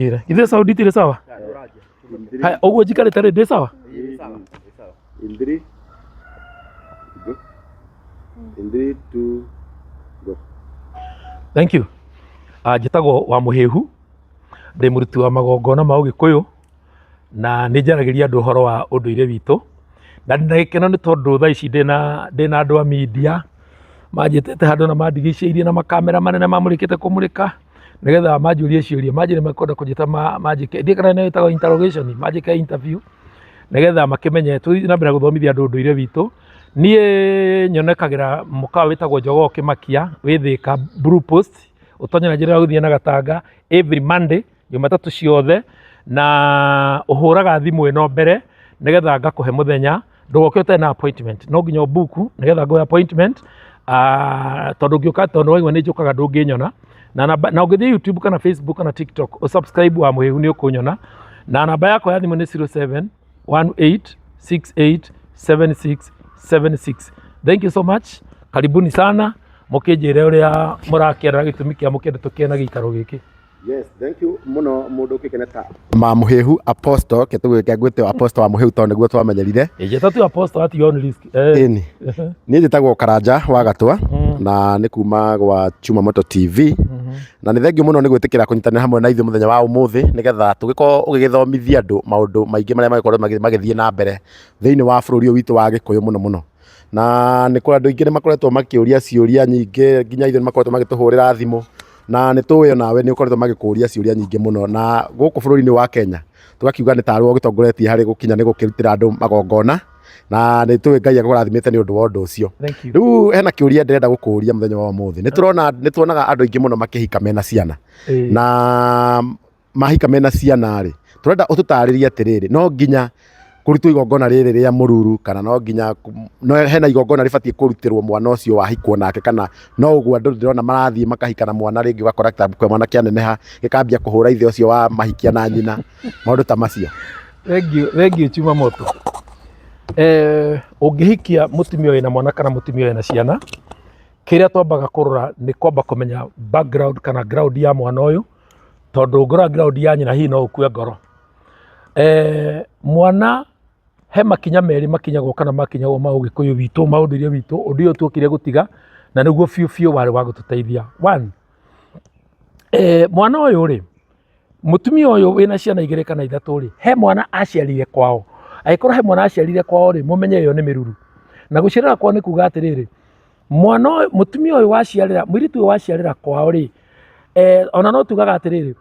Ira. Ithe saundi tire sawa? Haya, uguo njikare tare ndi sawa? In three, go. In three, two, go. Thank you. Uh, njĩtagwo wa mũhĩhu ndĩ mũruti wa magongona ma ũgĩkũyũ na nĩ njaragĩria andũ ũhoro wa ũndũire witũ na ndĩ na gĩkeno nĩ tondũ thaa ici ndĩ na ndĩ na andũ a media manjĩtĩte handũ na mandigicĩirie na makamera manene mamũrĩkĩte kũmũrĩka nigetha manjũrie ciũria manjĩ nĩ makwenda kũnjĩta ma- manjĩke ndiĩ kana nĩyo ĩtagwo interrogation manjĩke interview nigetha makĩmenye tũthiĩ na mbere na gũthomithia andũ ũndũire witũ niĩ nyonekagĩra mũkawa wĩtagwo njogoo kĩmakia wĩ thĩka blue post ũtonye na njĩra ya gũthiĩ na gatanga every monday jumatatũ ciothe na ũhũraga thimũ ĩno mbere nĩgetha ngakũhe mũthenya ndũgoke ũtarĩ na appointment no nginya ũbuku nĩgetha ngoe appointment ah, tondũ ngĩũka tondũ waigua nĩ njũkaga ndũngĩnyona na namba na ũngĩthiĩ youtube kana facebook kana tiktok ũsubscribe wa mũhĩhu nĩ ũkũnyona na namba yakwa ya thimũ nĩ 07 18 68 76 76 thank you so much karibuni sana mũkĩnjĩre ũrĩa mũrakĩenda gĩtũmi kĩa mũkĩenda tũkĩe na gĩikaro gĩkĩ Yes, thank you muno mundu ukikene ta ma muhehu apostle ke tugwike ngwite apostle wa muhehu to niguo twamenyerire njeta tu apostle ati on risk eh ni ni njitagwo karanja wa gatwa mm. na ni kuma gwa chuma moto tv mm-hmm. na ni thengiu muno ni gwitikira kunyitanira hamwe na ithu muthenya wa umuthi nigetha tugiko ugigithomithia andu maundu maingi maria magikorwo magithie na mbere thiini wa bururi witu wa gikuyu muno muno na nĩ kũrĩ andũ aingĩ nĩ makoretwo makĩũria ciũria nyingĩ nginya ithuĩ nĩ makoretwo magĩtũhũrĩra thimũ, na nĩ tũĩ onawe nĩ ũkoretwo magĩkũria ciũria nyingĩ mũno, na gũkũ bũrũri-inĩ wa Kenya tũgakiuga nĩ tarĩ we ũgĩtongoretie harĩ gũkinya nĩ gũkĩrutĩra andũ magongona, na nĩ tũĩ Ngai agũrathimĩte nĩ ũndũ wa ũndũ ũcio. Rĩu hena kĩũria ndĩrenda gũkũria mũthenya wa ũmũthĩ, nĩ tũrona nĩ tuonaga andũ aingĩ mũno makĩhika mena ciana, na mahika mena ciana rĩ, tũrenda ũtũtarĩrie atĩrĩrĩ, no nginya kũrutwo igongona rĩrĩ rĩa mũruru kana no nginya, hena igongona rĩbatiĩ kũrutĩrwo mwana ũcio wahikwo nake kana no ũguo andũ ndĩrona marathiĩ makahika na mwana rĩngĩ ũgakora kĩrabu kĩa mwana kĩaneneha gĩkambia kũhũra ithe ũcio wa mahikia na nyina, maũndũ ta macio. Thengiũ, thengiũ Chuma Moto. Eh, ũngĩhikia mũtumia wĩna mwana kana mũtumia wĩna ciana, kĩrĩa twambaga kũrora nĩ kwamba kũmenya background kana ground ya mwana ũyũ. tondũ ngoro angiraundi ya nyina hihi no ũkue ngoro eh, mwana he makinya merĩ makinyagwo kana makinyagwo ma ũgĩkũyũ witũ ma ũndũire witũ ũndũ ũyũ tuokire gũtiga na nĩguo biũ biũ warĩ wa gũtũteithia one eh, mwana ũyũ rĩ mũtumia ũyũ wĩna ciana igĩrĩ kana ithatũ rĩ he mwana aciarire kwao agĩkorwo he mwana aciarire kwao rĩ mũmenye ĩyo nĩ mĩruru na gũciarĩra kwao nĩ kuga atĩrĩrĩ mwana ũyũ mũtumia ũyũ waciarĩra mũirĩtu ũyũ waciarĩra kwao rĩ eh, ona no tugaga atĩrĩrĩ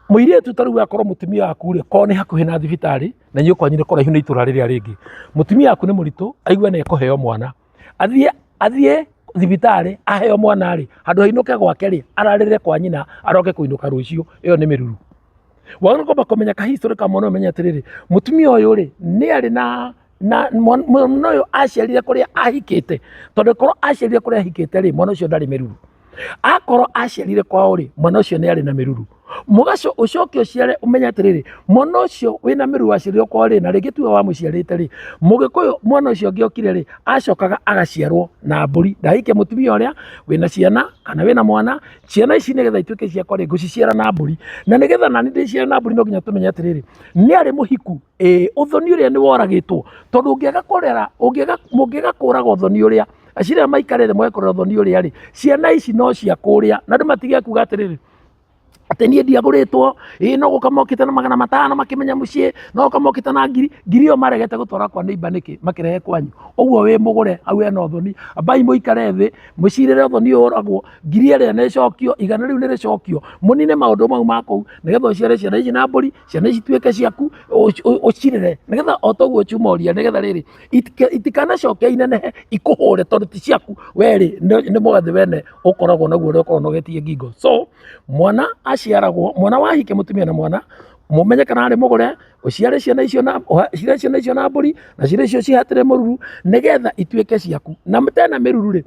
mũirĩtu ta rĩu akorwo mũtumia waku rĩ korwo nĩ hakuhĩ na thibitarĩ na inyuĩ kwanyu nĩ kũraihu na itũra rĩrĩa rĩngĩ mũtumia waku nĩ mũritũ aigua nĩ ekũheo mwana athiĩ athiĩ thibitarĩ aheo mwana rĩ handũ hainũke gwake rĩ ararĩre kwa nyina aroke kũinũka rũciũ ĩyo nĩ mĩruru wagĩrĩirwo kwamba kũmenya ka history ka mwana ũmenye atĩrĩrĩ mũtumia ũyũ rĩ nĩ arĩ na na mwan- mwana ũyũ aciarire kũrĩa ahikĩte tondũ korwo aciarire kũrĩa ahikĩte rĩ mwana ũcio ndarĩ mĩruru akorwo aciarire kwao rĩ mwana ũcio nĩ arĩ na mĩruru mũgaco ũcoke ũciare ũmenye atĩrĩrĩ mwana ũcio wĩna mĩruru waciarirwo kwao rĩ na rĩngĩ tuwe wamũciarĩte rĩ mũgĩkũyũ mwana ũcio ũngĩ okire rĩ acokaga agaciarwo na mbũri ndahike mũtumia ũrĩa wĩna ciana kana wĩna mwana ciana ici nĩgetha ituĩke ciakwa rĩ ngũciciara na mbũri na nĩgetha nani ndĩciare na mbũri no nginya tũmenye atĩrĩrĩ nĩ arĩ mũhiku Ĩĩ ũthoni ũrĩa nĩ woragĩtwo, tondũ ũngĩaga kũrera, ũngĩaga, mũngĩaga kũraga ũthoni ũrĩa, eciria rĩrĩa maikarĩra thĩ moe kũrera ũthoni ũrĩa rĩ, ciana ici no cia kũrĩa, na andũ matige kuuga atĩrĩrĩ, atĩ niĩ ndiagũrĩtwo, ĩĩ no gũka mokĩte na magana matano makĩmenya mũciĩ, no gũka mokĩte na ngiri, ngiri ĩyo maregete gũtwara kwa neighbour nĩkĩ, makĩrehe kwanyu? Ũguo wĩ mũgũre, hau hena ũthoni. Ambai mũikare thĩ, mũcirĩre ũthoni ũyũ woragwo, ngiri ĩrĩa nĩ ĩcokio, igana rĩu nĩ rĩcokio, mũnine maũndũ mau ma kũu, nĩgetha ũciare ciana ici na mbũri. ciana ici tuĩke ciaku ũci- ũ- ũcirere nĩgetha o toguo ciumoria nĩgetha rĩrĩ itika- itikanacoke inenehe ikũhũre tondũ ti ciaku we rĩ nĩ nĩ mũgathĩ wene ũkoragwo naguo ũrĩa ũkoragwo nogetie ngingo so mwana aciaragwo mwana wahike mũtumia na mwana mũmenye kana arĩ mũgũre ũciare ciana icio na ũha- ũciare ciana icio na mbũri na ciana icio cihatĩre mũruru nĩgetha ituĩke ciaku na tena mĩruru rĩ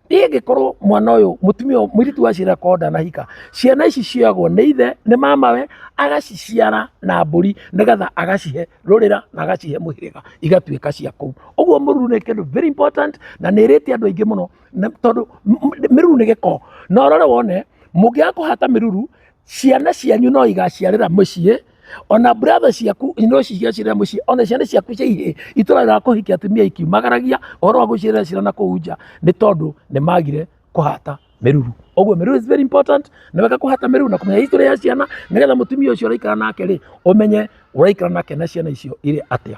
Niĩ ngĩkorwo mwana ũyũ mũtumia ũyũ mũirĩtu waciara korwo ndanahika, ciana ici cioyagwo nĩ ithe, nĩ mamawe, agaciciara na mbũri nĩgetha agacihe rũrĩra na agacihe mũhĩrĩga igatuĩka cia kũu. Ũguo mũruru nĩ kĩndũ very important na nĩ ĩrĩtie andũ aingĩ mũno na tondũ m- m- mĩruru nĩ gĩko. Na ũrore wone, mũngĩaga kũhata mĩruru, ciana cianyu no igaciarĩra mũciĩ. ona brother ciaku ino ici cia cira muciĩ ona ciana ciaku cia ihĩ itũraga kũhikia atumia ikiumagaragia ũhoro wa gũcirera cira na kũu nja nĩ tondũ nĩ magire kũhata mĩruru ũguo mĩruru is very important na wega kũhata mĩruru na kũmenya history ya ciana nĩgetha mũtumia ũcio ũraikara nake rĩ ũmenye ũraikara nake na ciana icio irĩ atĩa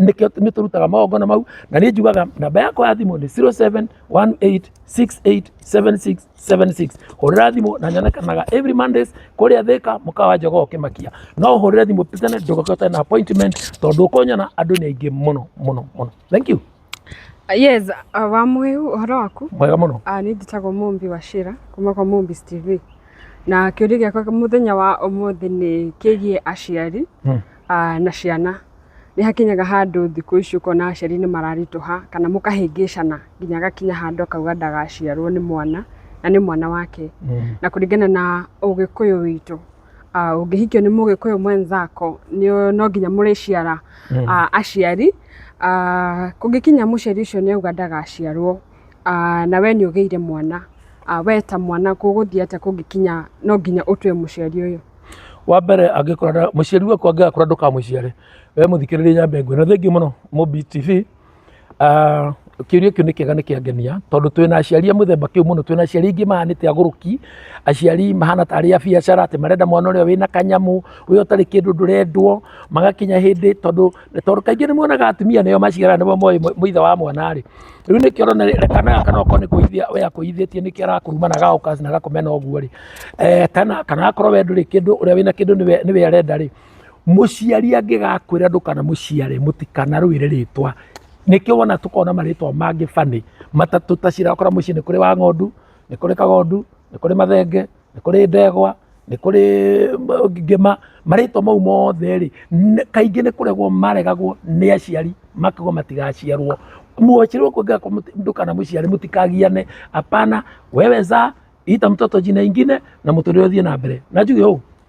nĩkĩo nĩ tũrutaga magongona mau na nĩ njugaga namba yakwa ya thimũ nĩ 0718687676 hũrĩra thimũ na nyonekanaga every mondays kũrĩa thĩka mũkawa njogoo kĩmakia no hũrĩre thimũ tene ndũgakĩo tena na appointment tondũ ũkũnyona andũ nĩ aingĩ mũno mũno mũno thank you yes uh, wa mwiu uhoro waku mwega mũno uh, nä njätagwo mumbi wa cira kuma kwa mumbis tv na kä å ria gä akwa må thenya wa å må thä nä kä giä aciari Hmm. ah, na ciana nĩ hakinyaga handũ thikũ ici ũkona aciari nĩ mararitũha kana mũkahĩngĩcana nginya agakinya handũ akauga ndagaciarwo nĩ mwana na nĩ mwana wake na kũringana na ũgĩkũyũ witũ ah, ũngĩhikio nĩ mũgĩkũyũ mwenzako nĩ- no nginya mũrĩciara ah, aciari Ah, kũngĩkinya mũciari ũcio nĩ auga ndagaciarwo na we nĩ ũgĩire mwana, we ta mwana gũgũthiĩ atĩa kũngĩkinya no nginya ũtue mũciari ũyũ? Wa mbere angĩkorwo mũciari waku angĩgakũra ndũkamũciare, we mũthikĩrĩrie nyambe ngwĩre. Thengiũ mũno Mũmbi TV, kĩũria kĩu nĩ kĩega nĩ kĩangenia tondũ twĩna aciari a mũthemba kĩu mũno. Twĩna aciari aingĩ mahana nĩta agũrũki, aciari mahana tarĩ a biacara atĩ marenda mwana ũrĩa wĩna kanyamũ, ũrĩa ũtarĩ kĩndũ ndũrendwo, magakinya hĩndĩ tondũ... Nĩ tondũ kaingĩ nĩ muonaga atumia nĩo maciaraga nĩo moĩ mũ- mũithe wa mwana rĩ, rĩu nĩkĩo ũrona rĩ- kana gaka no okorwo nĩ kũithia we akũithĩtie nĩkĩo arakuruma na gagoka na gakũmena ũguo rĩ, Eh, kana kana akorwo we ndũrĩ kĩndũ ũrĩa wĩna kĩndũ nĩwe nĩwe arenda rĩ, mũciari angĩgakwĩra ndũkanamũciare mũtikanarũĩre rĩtwa nĩkĩo wona tũkoragwo na marĩtwa mangĩ bani matatũ ta cirakora mũciĩ nĩ kũrĩ wa ng'ondu nĩ kũrĩ kagondu nĩ kũrĩ mathenge nĩ kũrĩ ndegwa, nĩ kũrĩ ngĩma, marĩtwa mau mothe rĩ, kaingĩ nĩ kũregwo maregagwo nĩ aciari makauga matigaciarwo. Mwaciarwo kuongerera kwa mũndũ kana mũciari mũtikagiane, apana, wewe zaa, ita mtoto jina ingine na mũtũrĩre ũthiĩ na mbere. Na njuge ũũ,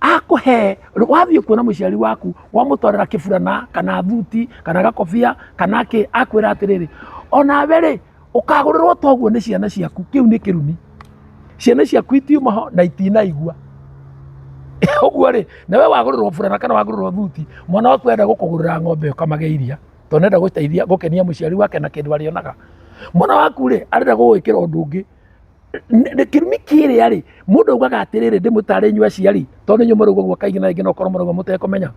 akũhe wathiĩ kuona mũciari waku wamũtwarĩra kĩburana kana thuti kana gakobia kana kĩ akwĩra atĩrĩrĩ onawe rĩ ũkagũrĩrwo toguo nĩ ciana ciaku kĩu nĩ kĩrumi ciana ciaku itiuma ho na itinaigua ũguo rĩ na we wagũrĩrwo burana kana wagũrĩrwo thuti mwana waku enda gũkũgũrĩra ng'ombe ũkamage iria tondũ nenda gũteithia gũkenia mũciari wake na kĩndũ arĩonaga mwana waku rĩ arenda gũgwĩkĩra ũndũ ũngĩ kĩrumi kĩrĩa rĩ mũndũ augaga atĩrĩrĩ ndĩmũtare inyuĩ aciari tondũ inyuĩ mũrauga ũguo kaingĩ na rĩngĩ no ũkorwo mũrauga mũtekũmenya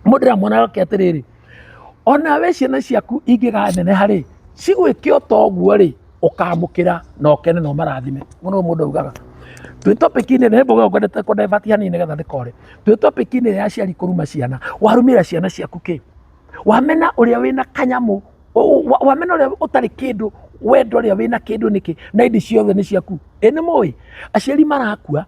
mũndũ ndĩramwona oke atĩrĩrĩ ona we ciana ciaku ingĩganeneha rĩ cigwĩke o ta ũguo rĩ ũkamũkĩra na ũkene na ũmarathime mũno mũndũ augaga twĩ topic-inĩ nĩ mboga ngwendete kũ divert hanini nĩgetha ndĩkore twĩ topic-inĩ ya aciari kũruma ciana warumĩra ciana ciaku kĩ Wamena ũrĩa wĩna kanyamũ, wamena ũrĩa ũtarĩ kĩndũ, wenda ũrĩa wĩna kĩndũ nĩkĩ? Na ĩndĩ ciothe nĩ ciaku. Ĩ nĩ mũĩ? Aciari marakua,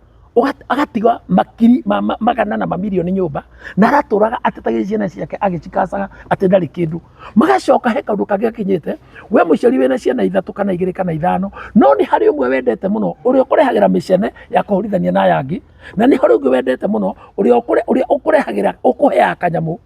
agatiga makiri ma magana na mamirioni nyũmba, na aratũraga atetagia ciana ciake agĩcikacaga atĩ ndarĩ kĩndũ. Magacoka he kaũndũ kangĩ gakinyĩte, we mũciari wĩna ciana ithatũ kana igĩrĩ kana ithano, no nĩ harĩ ũmwe wendete mũno, ũrĩa ũkũrehagĩra mĩcene ya kũhũrithania na aya angĩ, na nĩ harĩ ũngĩ wendete mũno, ũrĩa ũkũrehagĩra ũkũheaga kanyamũ.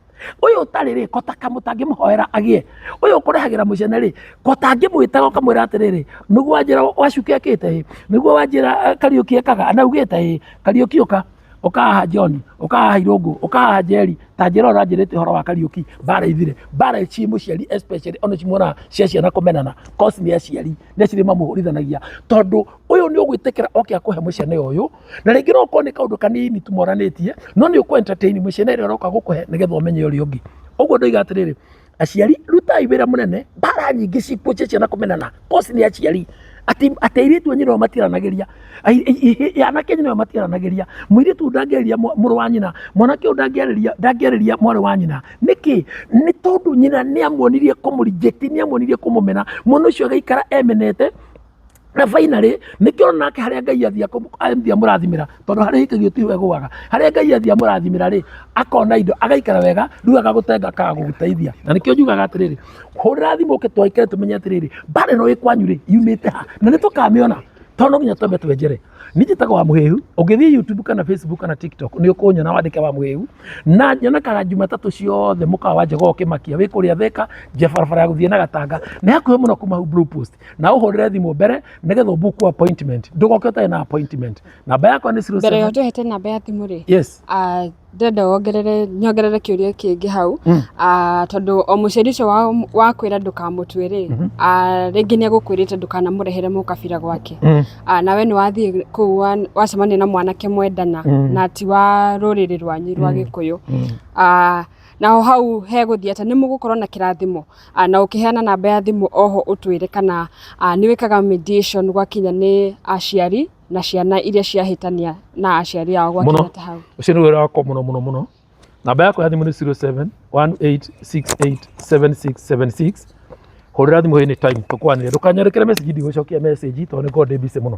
Ũyũ ũtarĩ rĩ, kota kamũ tangĩmũhoera agĩe. Ũyũ ũkũrehagĩra mũcene rĩ, kota ngĩmwĩtaga ũkamwĩra atĩrĩrĩ, nĩguo wanjĩra wacuke akĩte ĩ, nĩguo wanjĩra eh, Kariũki ekaga na ugĩte ĩ, Kariũki ũka ũka haha John, ũka haha Irũngũ, ũka haha Njeri, ta njĩra ũranjĩrĩte ũhoro wa Kariũki, mbara ithire. Mbara ci mũciari especially ona cimuonaga cia ciana kũmenana, cause nĩ aciari, nĩ aciari mamũhũrithanagia tondũ ũyũ nĩ ũgwĩtĩkĩra oke akũhe mũcene ũyũ na rĩngĩ no ũkorwo nĩ kaũndũ kanini tũmoranĩtie no nĩ ũkũ entertain mũcene ĩrĩa ũroka gũkũhe nĩgetha ũmenye ũrĩa ũngĩ ũguo ndoiga atĩrĩrĩ aciari rutai wĩra mũnene mbara nyingĩ cikũnjia ciana kũmenana kosi nĩ aciari atĩ atĩ airĩtu anyu nĩo matiranagĩria Ai- i- i- anake anyu nĩo matiranagĩria mũirĩtu ũyũ ndangĩarĩria mwa- mũrũ wa nyina mwanake ũyũ ndangĩarĩria ndangĩarĩria mwarĩ wa nyina nĩkĩ nĩ tondũ nyina nĩamuonirie kũmũrinjĩti nĩamuonirie kũmũmena mwana ũcio agaikara emenete na finally nĩkĩo ũrona ake harĩa ngai athiĩ akũ- athiĩ amũrathimĩra tondũ harĩa hikagio tiho egũaga harĩa ngai athiĩ amũrathimĩra rĩ akona indo agaikara wega rĩu agagũtenga akaga gũgũteithia na nĩkĩo njugaga atĩrĩrĩ hũrĩra thimũ ũke twaikare tũmenye atĩrĩrĩ mbarĩ ĩno ĩ kwanyu rĩ yumĩte ha na nĩ tũkamĩona tondũ no nginya twambe twenjere nĩ njĩtaga wa mũhĩhu ũngĩthiĩ youtube kana facebook kana tiktok nĩ ũkũnyona wandĩke wa mũhĩhu na nyonekaga jumatatũ ciothe mũkawa wa njega ũkĩmakia wĩ kũrĩa theka nja barabara ya gũthiĩ na gatanga nĩ hakuhĩ mũno kuma hau blue post na ũhũrĩre thimũ mbere nĩgetha ũbuku appointment ndũgoke ũtarĩ na appointment namba yakwa nĩ zero mbere ya seven- ũtehete namba ya thimũ rĩ yes ah, ndĩrenda wongerere nyongerere kĩũria kĩngĩ hau Mm. Ah, tondũ o mũciari ũcio wa- wakwĩra ndũkamũtue rĩ Mhm. ah, rĩngĩ nĩ agũkwĩrĩte ndũkanamũrehere mũkabira gwake Mm. Ah, nawe nĩ wathiĩ kũu wa- wacemania na mwanake mwendana Mm. na ti wa rũrĩrĩ rwanyu rwa Mm. gĩkũyũ Mm. Ah, naho hau hegũthiĩ atĩ nĩ mũgũkorwo na kĩrathimo ah, na ũkĩheana namba ya thimũ oho ũtwĩre kana ah, nĩ wĩkaga mediation gwakinya nĩ aciari na ciana iria ciahĩtania na aciari ao gwakinya Mũno. ta hau ũcio nĩ wĩra wakwa mũno mũno mũno namba yakwa ya thimũ nĩ 0718687676 hũrĩra thimũ hĩnĩ time tũkwanĩre ndũkanyerekere message ndigũcokia message tondũ nĩngorwo ndĩ busy mũno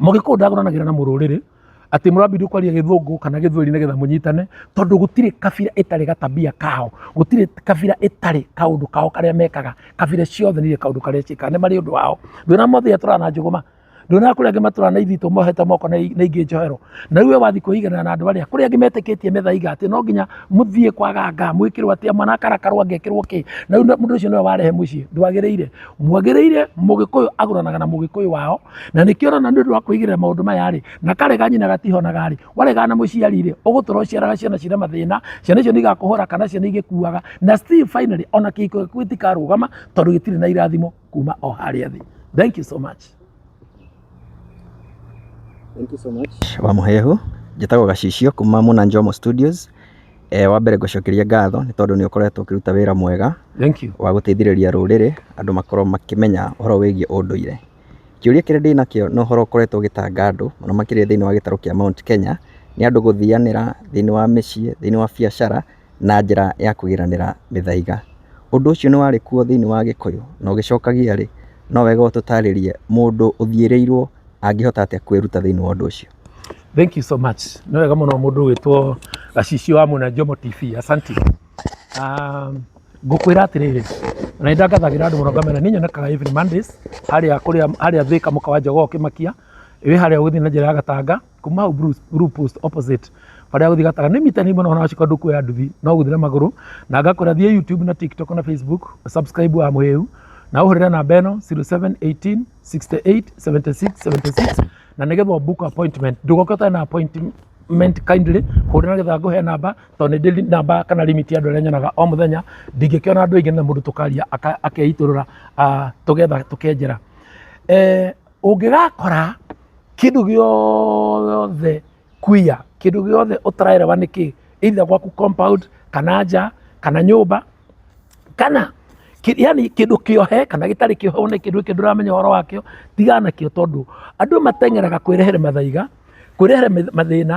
Mũgĩkũyũ ndagũranagĩra na mũrũrĩrĩ atĩ mũrambindwo kwaria gĩthũngũ kana gĩthweri nĩgetha mũnyitane, tondũ gũtirĩ kabira ĩtarĩ ga tabia kao, gũtirĩ kabira ĩtarĩ kaũndũ kao karĩa mekaga, kabira ciothe nĩirĩ kaũndũ karĩa ciĩkaga, nĩ marĩ ũndũ wao. Ndũrĩ wona mũthĩ atũraga na njũgũma? Ndũrĩ wona kũrĩ angĩ matũraga na ithitũ mohete moko na ingĩ njohero? Na rĩu we wathiĩ kwĩiganĩra na andũ arĩa, kũrĩ angĩ metĩkĩtie mĩthaiga atĩ no nginya mũthiĩ kwa ganga, mwĩkĩrwo atĩa, mwana akarakarwo angĩkĩrwo kĩ, na rĩu mũndũ ũcio nĩwe warehe mũciĩ, ndwagĩrĩire. mwagĩrĩire mũgĩkũyũ agũranaga na mũgĩkũyũ wao na nĩkĩo ũrona nĩ ũndũ wa kwĩigĩrĩra maũndũ maya rĩ na karega nyina gatihonaga rĩ waregana na mũciari rĩ ũgũtũra ũciaraga ciana cina mathĩna ciana icio nĩ igakũhũra kana ciana igĩkuaga na still finally ona kĩhiko gĩaku gĩtikarũgama tondũ gĩtirĩ na irathimo kuma o harĩa thĩ thank you so much Thank you so much. wa mũhehu njĩtagwo gacicio kuma muna njomo studios e, wa mbere ngũcokeria ngatho nĩ tondũ nĩ ũkoretwo ũkĩruta wĩra mwega Thank you. wa gũteithĩrĩria rũrĩrĩ andũ makorwo makĩmenya ũhoro wĩgiĩ ũndũire kĩũria kĩrĩa ndĩ nakĩo nĩ ũhoro ũkoretwo ũgĩtanga andũ mũno makĩria thĩinĩ wa gĩtarũ kĩa Mount Kenya nĩ andũ gũthianĩra thĩinĩ wa mĩciĩ thĩinĩ wa biacara na njĩra ya kũiganĩra mĩthaiga. Ũndũ ũcio nĩ warĩ kuo thĩinĩ wa Gĩkũyũ, na ũgĩcokagia rĩ, no wega ũtũtarĩrie mũndũ ũthiĩrĩirwo angĩhota atĩa kwĩruta thĩinĩ wa ũndũ ũcio. Thenk you so much. Nĩ wega mũno mũndũ ũgĩtwo Gacicio wa Mwena Njomo TV. Asanti. Um, ngũkwĩra atĩrĩrĩ na nĩ ndangathagĩra andũ mũno ngamena nĩ nyonekaga every Mondays harĩa kũrĩa harĩa Thĩka mũka wa Njogoo ũkĩmakia wĩ harĩa ũgĩthiĩ na njĩra ya Gatanga kuma hau Bruce- Blue post opposite barĩa gũthiĩ gatara nĩ mita nĩmwe nohona wacika ũndũ kuoya nduthi no gũthiĩ na magũrũ na ngakora thiĩ youtube na tiktok na facebook subscribe wa mũhĩu na ũhũrĩre namba ĩno 0718 68 76 76 na nĩgetha book appointment ndũgoka ũtarĩ na appointment kindly hũrĩra getha ngũhe namba tondũ nĩ ndĩ namba kana limit ya andũ arĩa nyonaga o mũthenya ndingĩkĩona andũ aingĩ na mũndũ tũkaria aka- akeitũrũra ah, tũgetha tũkenjera Eh, Ũngĩgakora kĩndũ gĩothe queer, kĩndũ gĩothe ũtarereba nĩ kĩĩ, either gwaku compound, kana nja, kana nyũmba, kana yani kĩndũ kĩohe kana gĩtarĩ kĩohe wone kĩndũ gĩkĩ ndũramenya ũhoro wakĩo, tigana nakĩo tondũ andũ mateng'eraga kwĩrehere mathaiga, kwĩrehere mathĩna,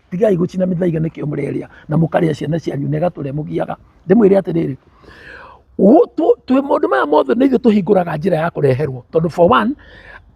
tigai gũcina mĩthaiga nĩkĩo mũrerĩa na mũkarĩa ciana cianyu na ĩgatũrĩa mũgiaga ndĩmwĩre atĩrĩrĩ Ũ- tũ- twĩ maũndũ maya mothe nĩ ithuĩ tũhingũraga njĩra ya kũreherwo tondũ for one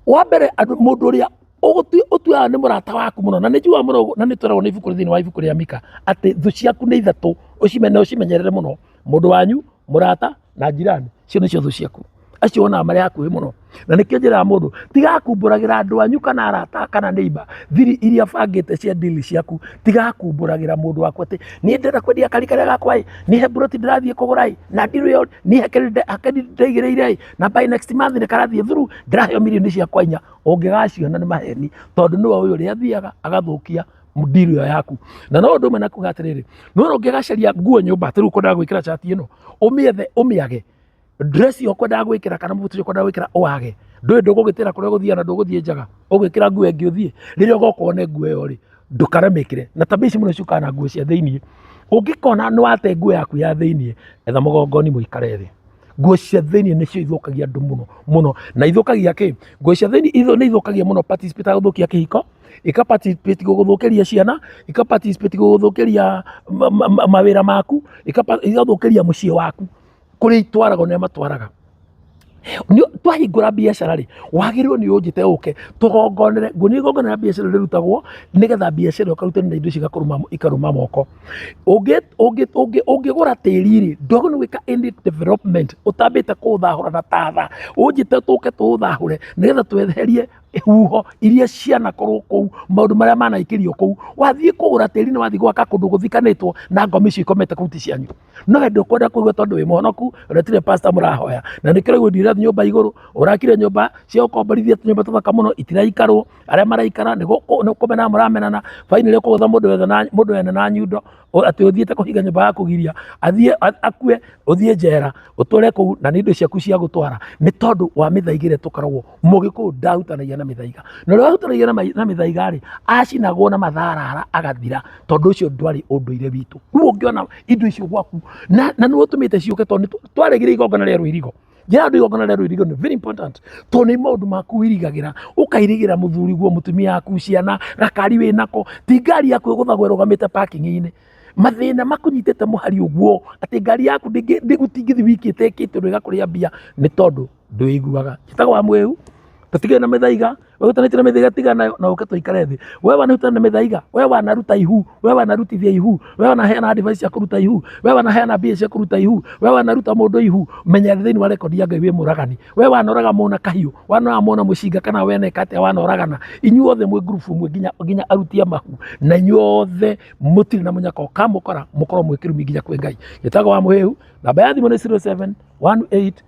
wa mbere andũ- mũndũ ũrĩa ũgũtu- ũtuaga nĩ mũrata waku mũno na nĩ njuaga mũno ũguo, na nĩ tweragwo nĩ ibuku thĩinĩ wa ibuku rĩa mika atĩ thũ ciaku nĩ ithatũ ũcimene ũcimenyerere mũno mũndũ wanyu mũrata na njirani cio nĩcio thũ ciaku acio wonaga marĩ hakuhĩ mũno na nĩkĩo njĩraga mũndũ tiga kumbũragĩra andũ anyu kana arata kana neighbor thiri iria bangĩte cia ndili ciaku tiga kumbũragĩra mũndũ wakwa atĩ niĩ ndĩrenda kwendia kari karĩa gakwa ĩ nihe mburoti ndĩrathiĩ kũgũra ĩ na ndiro ĩyo niĩ hakiri nde- hakiri ndaigĩrĩire ĩ na by next month nĩ karathiĩ thuru ndĩraheo mirioni ciakwa inya ũngĩgaciona nĩ maheni tondũ nĩwe ũyũ ũrĩa athiaga agathũkia deal ĩyo yaku na no ũndũ ũmwe na kuga atĩrĩrĩ nĩwona ũngĩgacaria nguo nyũmba atĩrĩu ũkwendaga gwĩkĩra cati ĩno ũmĩethe ũmĩage dress ĩyo ũkwendaga gwĩkĩra kana mũbuto ũcio ũkwendaga gwĩkĩra ũwage ndũĩ ndũgũgĩtĩra kũrĩa ũgũthiaga na ndũgũthiĩ njaga ũgwĩkĩra nguo ĩngĩ ũthiĩ rĩrĩa ũgoka wone nguo ĩyo rĩ ndũkaremĩkĩre na tabia ici mũno ciũkaga na nguo cia thĩinĩ ũngĩkona nĩ wate nguo yaku ya thĩinĩ etha mũgongoni mũikare thĩ nguo cia thĩinĩ nĩcio ithũkagia andũ mũno mũno na ithũkagia kĩ nguo cia thĩinĩ ithu- nĩ ithũkagia mũno participate ya gũthũkia kĩhiko ika participate gũgũthũkĩria ciana ika participate gũgũthũkĩria ma- ma- ma- mawĩra maku ika pa- igathũkĩria mũciĩ waku kũrĩa itwaragwo nĩ matwaraga Nĩ- twahingũra biacara rĩ wagĩrĩirwo nĩ ũnjĩte ũke tũgongonere ngunia igongona rĩa biacara rĩrutagwo nĩgetha biacara ũkarutana na indo ici ikarũma ikarũma moko Ũngĩ- ũngĩ- ũngĩ- ũngĩgũra tĩri rĩ ndwagĩrĩirwo nĩ gwĩka any development ũtambĩte kũũthahũra na tatha ũnjĩte tũke tũũthahũre nĩgetha tweherie huho iria cianakorwo kũu maũndũ marĩa manaikĩrio kũu wathiĩ kũgũra tĩri nĩ wathiĩ gwaka kũndũ gũthikanĩtwo na ngoma icio ikomete kũu ti cianyu no hĩndĩ ũkwenda kũigua tondũ wĩ mũhonoku na tire pasta mũrahoya na nĩkĩo rĩu ũthiĩ ũrathiĩ nyũmba igũrũ ũrakire nyũmba cia ũkomborithia tũnyũmba tũthaka mũno itiraikarwo arĩa maraikara nĩ gũkũ- nĩ kũmenana mũramenana finally ũkũgũtha mũndũ wene na- mũndũ wene na nyundo O- atĩ ũthiĩte kũhinga nyũmba ya kũgiria athiĩ a- akue ũthiĩ njera ũtũre kũu na nĩ indo ciaku cia gũtwara nĩ tondũ wa mĩthaiga ĩrĩa tũkoragwo mũgĩkũyũ ndahutanagia na mĩthaiga na ũrĩa wahutanagia na ma- na mĩthaiga rĩ acinagwo na matharara agathira tondũ ũcio ndwarĩ ũndũire witũ rĩu ũngĩona indo icio gwaku na na nĩ ũtũmĩte ciũke tondũ nĩ tw- twarĩgire igongona rĩa rũirigo njĩra andũ igongona rĩa rũirigo nĩ very important tondũ nĩ maũndũ maku wirigagĩra ũkairigĩra mũthuri guo mũtumia yaku ciana gakari wĩ nako ti ngari yaku ĩgũthagwo ĩrũgamĩte parking-inĩ mathĩna makunyitĩte mũhari ũguo atĩ ngari yaku ndĩngĩ- ndĩgũtingĩthi wiki ĩtekĩte ũndũ ĩgakũrĩa mbia nĩ tondũ ndwĩiguaga njĩtaga wa mwĩu tũtigĩrĩ na mĩthaiga we ũtanĩtie na mĩthaiga tiga nayo na ũke tũikare thĩ we wanahutana na mĩthaiga we wanaruta ihu we wanarutithia ihu we wanaheana advice cia kũruta ihu we wanaheana mbia cia kũruta ihu we wanaruta mũndũ ihu menya thĩinĩ wa rekondi ya ngai wĩ mũragani we wanoraga mũna kahiũ wanoraga mũna mũcinga kana weneka atĩa wanoragana inyuothe mwĩ ngurubu mwe nginya nginya arutia mahu na inyuothe mũtirĩ na mũnyaka ũkamũkora mũkorwo mwĩ kĩrumi nginya kwĩ ngai gĩtago wa mũhĩhu namba ya thimũ nĩ 07 18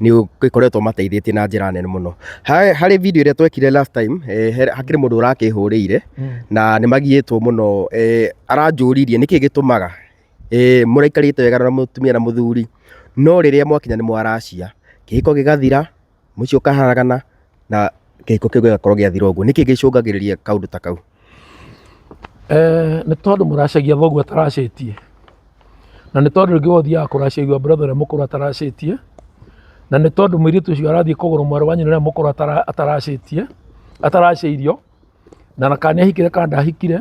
nĩ ĩkoretwo mateithĩtie na njĩra nene mũno. Harĩ video ĩrĩa twekire last time, hakĩrĩ mũndũ ũrakĩhũrĩire na nĩ magiĩtwo mũno, aranjũririe nĩkĩ gĩtũmaga mũraikarĩte wega na mũtumia na mũthuri no rĩrĩa mwakinya nĩ mwaracia, kĩhiko gĩgathira, mũciĩ ũkaharagana na kĩhiko kĩu gĩgakorwo gĩathira ũguo. Nĩkĩ gĩcũngagĩrĩria kaũndũ ta kau? Eh, nĩ tondũ mũracagia thoguo ataracĩtie na nĩ tondũ rĩngĩ ũthiaga kũracĩrio brother ũrĩa mũkũrũ ataracĩtie na nĩ tondũ mũirĩtu ũcio arathiĩ kũgũrũ mwarĩ wa nyina ũrĩa mũkũrũ atara- ataracĩtie ataracĩirio na na kana nĩahikire kana ndahikire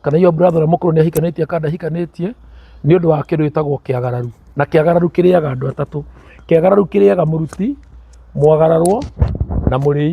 kana iyo brother ũrĩa mũkũrũ nĩahikanĩtie kana ndahikanĩtie nĩ ũndũ wa kĩndũ gĩtagwo kĩagararu na kĩagararu kĩrĩaga andũ atatũ kĩagararu kĩrĩaga mũruti mwagararwo na mũrĩi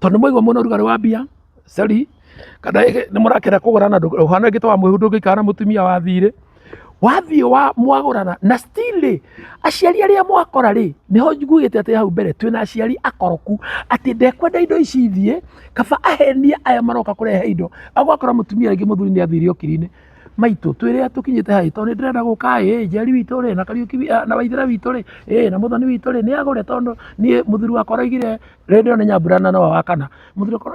tondũ mwaigua mũna ũrugarĩ wa mbia cari kana nĩ mũrakena kũgũra na ũhana gĩtwa wa mwĩhu ndũngĩikara na mũtumia wa thirĩ wathiĩ wa mwagũrana na still rĩ aciari arĩa mwakora rĩ nĩho njugĩte atĩ hau mbere twĩna aciari akoroku atĩ ndekwenda indo ici ithiĩ kaba ahenia aya maroka kũrehe indo agwakora mũtumia rĩngĩ mũthuri nĩ athiire okiri-inĩ maitũ twĩrĩa tũkinyĩte haĩ tondũ nĩ ndĩrenda gũka ĩ njeri witũ rĩ na kariũki na waithĩra witũ rĩ ĩ na mũthoni witũ rĩ nĩ agũre tondũ niĩ mũthuri wakwa araigire Rĩrĩ nĩyo nĩ nyambura na Noa wa kana.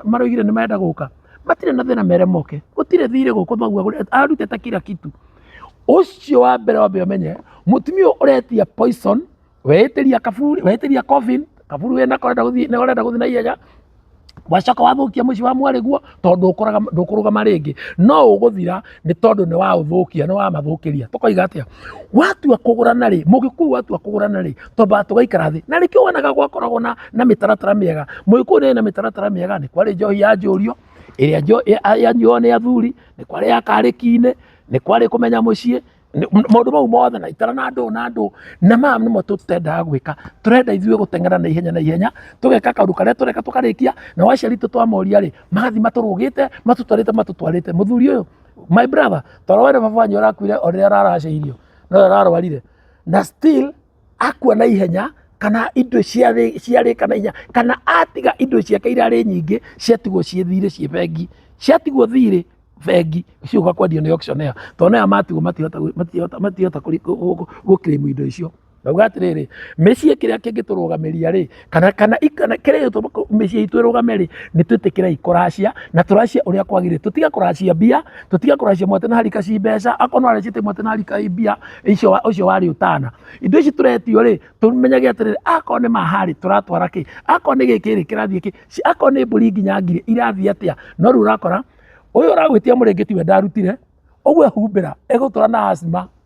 Maraugire nĩ marenda gũka. Matirĩ na thĩna mere moke. Gũtirĩ thirĩ gũkũ thoguo agũrĩte, arutĩte kira kitu. Ũcio wa mbere wambe ũmenye, mũtumia ũyũ ũretia poison, weĩtĩria kaburi, weĩtĩria coffin, kaburi wĩnako ũrenda gũthiĩ, ũrenda gũthiĩ na ihenya, wacoka wathũkia mũciĩ wa mwarĩguo. tondũ ndũkũrũgama rĩngĩ no ũgũthira nĩ tondũ nĩ waũthũkia nĩ wamathũkĩria tũkoiga atĩa watua kũgũrana rĩ mũgĩkũyũ watua kũgũrana rĩ twambaga tũgaikara thĩ na nĩkĩo wonaga gwakoragwo na, na mĩtaratara mĩega mũgĩkũyũ nĩ na mĩtaratara mĩega nĩ kwarĩ njohi ya njũrio ĩrĩa yanyuo nĩ athuri nĩ kwarĩ ya karĩki-inĩ nĩ kwarĩ kũmenya mũciĩ Nĩ- m- maũndũ mau mothe na itara na ndũ na ndũ na maya nĩmo tũtendaga gwĩka tũrenda ithuĩ gũteng'era na ihenya na ihenya tũgeka kaũndũ karĩa tũreka tũkarĩkia na waciari tũ twamoria rĩ magathiĩ matũrũgĩte matũtwarĩte matũtwarĩte mũthuri ũyũ my brother toro wene baba wanyu arakuire o rĩrĩa araracĩirio no ararwarire na still akua na ihenya kana indo ciarĩka na ihenya kana atiga indo ciake irarĩ nyingĩ ciatigwo ciĩ thirĩ ciĩ bengi ciatigwo thirĩ bengi icio ũgakwendio nĩ auction ĩyo tondũ naya matigwo matingĩhota gũkĩrĩmu indo icio. Ngauga atĩrĩrĩ, mĩciĩ kĩrĩa kĩngĩtũrũgamĩria rĩ, kana kana ikana kĩrĩa gĩtũma kũ- mĩciĩ itũ ĩrũgame rĩ nĩ twĩtĩkĩrei kũracia na tũracia ũrĩa kwagĩrĩire tũtiga kũracia mbia tũtiga kũracia mwate na harika ci mbeca akorwo no aracite mwate na harika i mbia icio wa- ũcio warĩ ũtana indo ici tũretio rĩ tũmenyage atĩrĩrĩ akorwo nĩ maharĩ tũratwara kĩ akorwo nĩ gĩkĩ rĩ kĩrathiĩ kĩ Ci- akorwo nĩ mbũri nginya ngiri irathiĩ atĩa no rĩu ũrakora ũyũ ũragwĩtia mũrĩngĩti we ndarutire ũguo ehumbĩra egũtũra na asima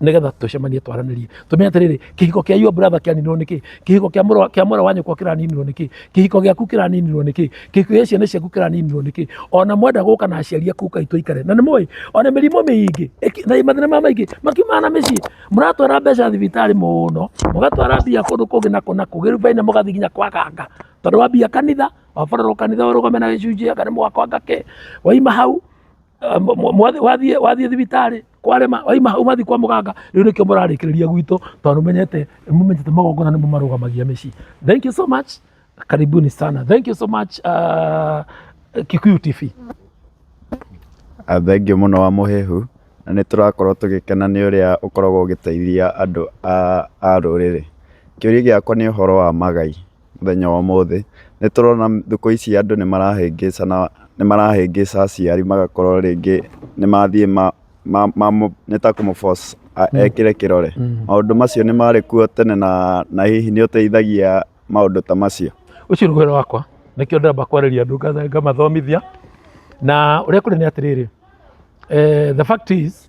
nĩgetha tũcemanie twaranĩrie tũmenye atĩrĩrĩ kĩhiko kĩa your brother kĩaninirwo nĩkĩ kĩhiko kĩa mũrũ kĩa mũrũ wa nyũkwa kĩraninirwo nĩkĩ kĩhiko gĩaku kĩraninirwo nĩkĩ kĩhiko gĩa ciana ciaku kĩraninirwo nĩkĩ ona mwenda gũka na aciari aku kai tũikare na nĩ mũĩ ona mĩrimũ mĩingĩ ĩki- na mathĩna ma maingĩ makiumaga na mĩciĩ mũratwara mbeca thibitarĩ mũno mũgatwara mbia kũndũ kũngĩ na kũna kũgĩrubainĩ mũgathiĩ nginya kwa ganga tondũ wa mbia kanitha wabarorwo kanitha ũrũgame na gĩcunjĩ kana mũgakwa ngake waima hau Ah, mwa- mwa- mwathi- wathiĩ wathiĩ thibitarĩ kwarema waima hau mathi kwa mũganga rĩu nĩkĩo mũrarĩkĩrĩria gwitũ tondũ nĩmenyete nĩmũmenyete magongona nĩmo marũgamagia mĩciĩ thank you so much karibuni sana thank you so much uh, kikuyu tv Ah, thengiũ mũno wa mũhehu na nĩ tũrakorwo tũgĩkena nĩ ũrĩa ũkoragwo ũgĩteithia andũ a a rũrĩrĩ kĩũria gĩakwa nĩ ũhoro wa magai mũthenya wa ũmũthĩ, nĩ tũrona thikũ ici andũ nĩ marahĩngĩcana, nĩ marahĩngĩca aciari magakorwo rĩngĩ nĩ mathiĩ ma, ma, ma, nĩ ta kũmũ force a- ekĩre kĩrore. Maũndũ macio nĩ marĩ kuo tene na, na hihi nĩ ũteithagia maũndũ ta macio. ũcio nĩ wĩra wakwa nĩkĩo ndĩramba kwarĩria andũ nga- ngamathomithia na ũrĩa kũrĩ nĩ atĩrĩrĩ eh, the fact is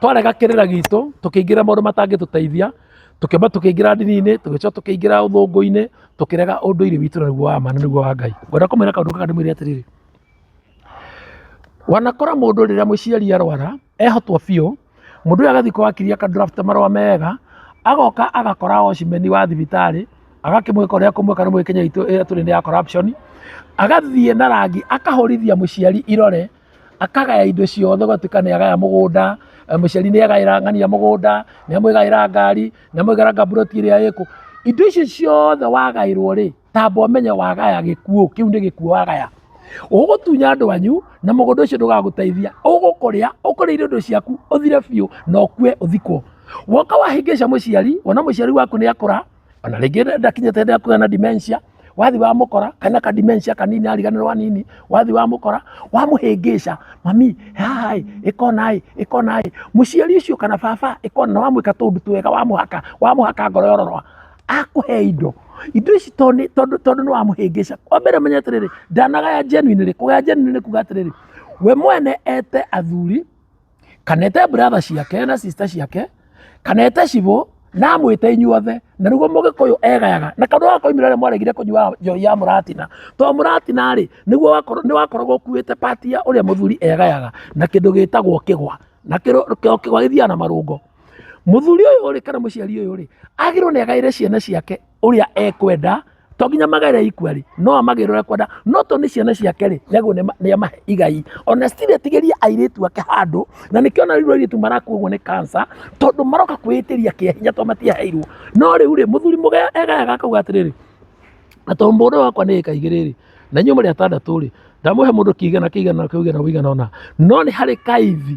Twarega kĩrĩra gitũ, tũkĩingĩra maũndũ matangĩtũteithia, tũkĩamba tũkĩingĩra ndini-inĩ, tũgĩcoka tũkĩingĩra ũthũngũ-inĩ, tũkĩrega ũndũire witũ ũrĩa nĩguo wa ma na nĩguo wa Ngai. Ngwenda kũmwĩra kaũndũ gaka ndĩmwĩre atĩrĩrĩ, wanakora mũndũ rĩrĩa mũciari arwara, ehotwo biũ, mũndũ ũyũ agathiĩ kwa wakiri aka draft marũa mega, agoka agakora watchman wa thibitarĩ, agakĩmwĩka ũrĩa ekũmwĩka nĩ mũĩ Kenya itũ ĩrĩa tũrĩ nĩ ya corruption, agathiĩ na rangi akahũrithia mũciari irore, akagaya indo ciothe ũgatuĩka nĩ agaya mũgũnda eh, mũciari nĩ agaĩra ng'ania mũgũnda nĩ amwĩgaĩra ngari nĩ amwĩgaĩra ngaburoti ĩrĩa ĩkũ indo icio ciothe wagaĩrwo rĩ tamba ũmenye wagaya gĩkuũ kĩu nĩ gĩkuũ wagaya ũgũtunya andũ anyu na mũgũnda ũcio ndũgagũteithia ũgũkũrĩa ũkũrĩa indo ciaku ũthire biũ na ũkue ũthikwo woka wahĩngĩca mũciari wona mũciari waku nĩ akũra ona rĩngĩ ndakinyĩte hĩndĩ ya kũgĩa na dementia wathi wamũkora kana ka dementia kanini ariganĩrwo nini wathi wamũkora wamũhĩngĩca mami haha ĩ ĩkona ĩ ĩkona ĩ mũciari ũcio kana baba ĩkona wamwĩka tũũndũ twega wamũhaka wamũhaka ngoro yororoa akũhe indo indo ici to nĩ- tondũ tondũ nĩ wamũhĩngĩca kwa mbere menye atĩrĩrĩ ndanagaya genuine rĩ kũgaya genuine nĩ kuga atĩrĩrĩ we mwene ete athuri kana ete brother ciake na sister ciake kana ete cibũ na amwĩte inyuothe na nĩguo mũgĩkũyũ egayaga na kaũndũ gakoimire rĩrĩa mwaregire kũnyua njohi ya mũratina to mũratina rĩ nĩguo nĩ wakoragwo ũkuĩte pati ya ũrĩa mũthuri egayaga na kĩndũ gĩtagwo kĩgwa na kĩgwa gĩthiaga na marũngo mũthuri ũyũ rĩ kana mũciari ũyũ rĩ agĩrĩirwo nĩ agaĩre ciana ciake ũrĩa ekwenda to nginya magere ikua rĩ no amagĩrwo ũrĩa kwenda no to nĩ ciana ciake rĩ nĩaguo nĩ amahe igai ona stiri atigĩria airĩtu ake handũ na nĩkĩo ona rĩu airĩtu marakua ũguo nĩ kansa tondũ maroka kwĩĩtĩria kĩa hinya to matiaheirwo no rĩu rĩ mũthuri mũgaya egayaga akauga atĩrĩrĩ na to mũndũ wakwa nĩ ĩka igĩrĩ rĩ na inyuĩ mũrĩ atandatũ rĩ ndamũhe mũndũ kĩigana kĩigana kĩigana ũigana ũna no nĩ harĩ kaithi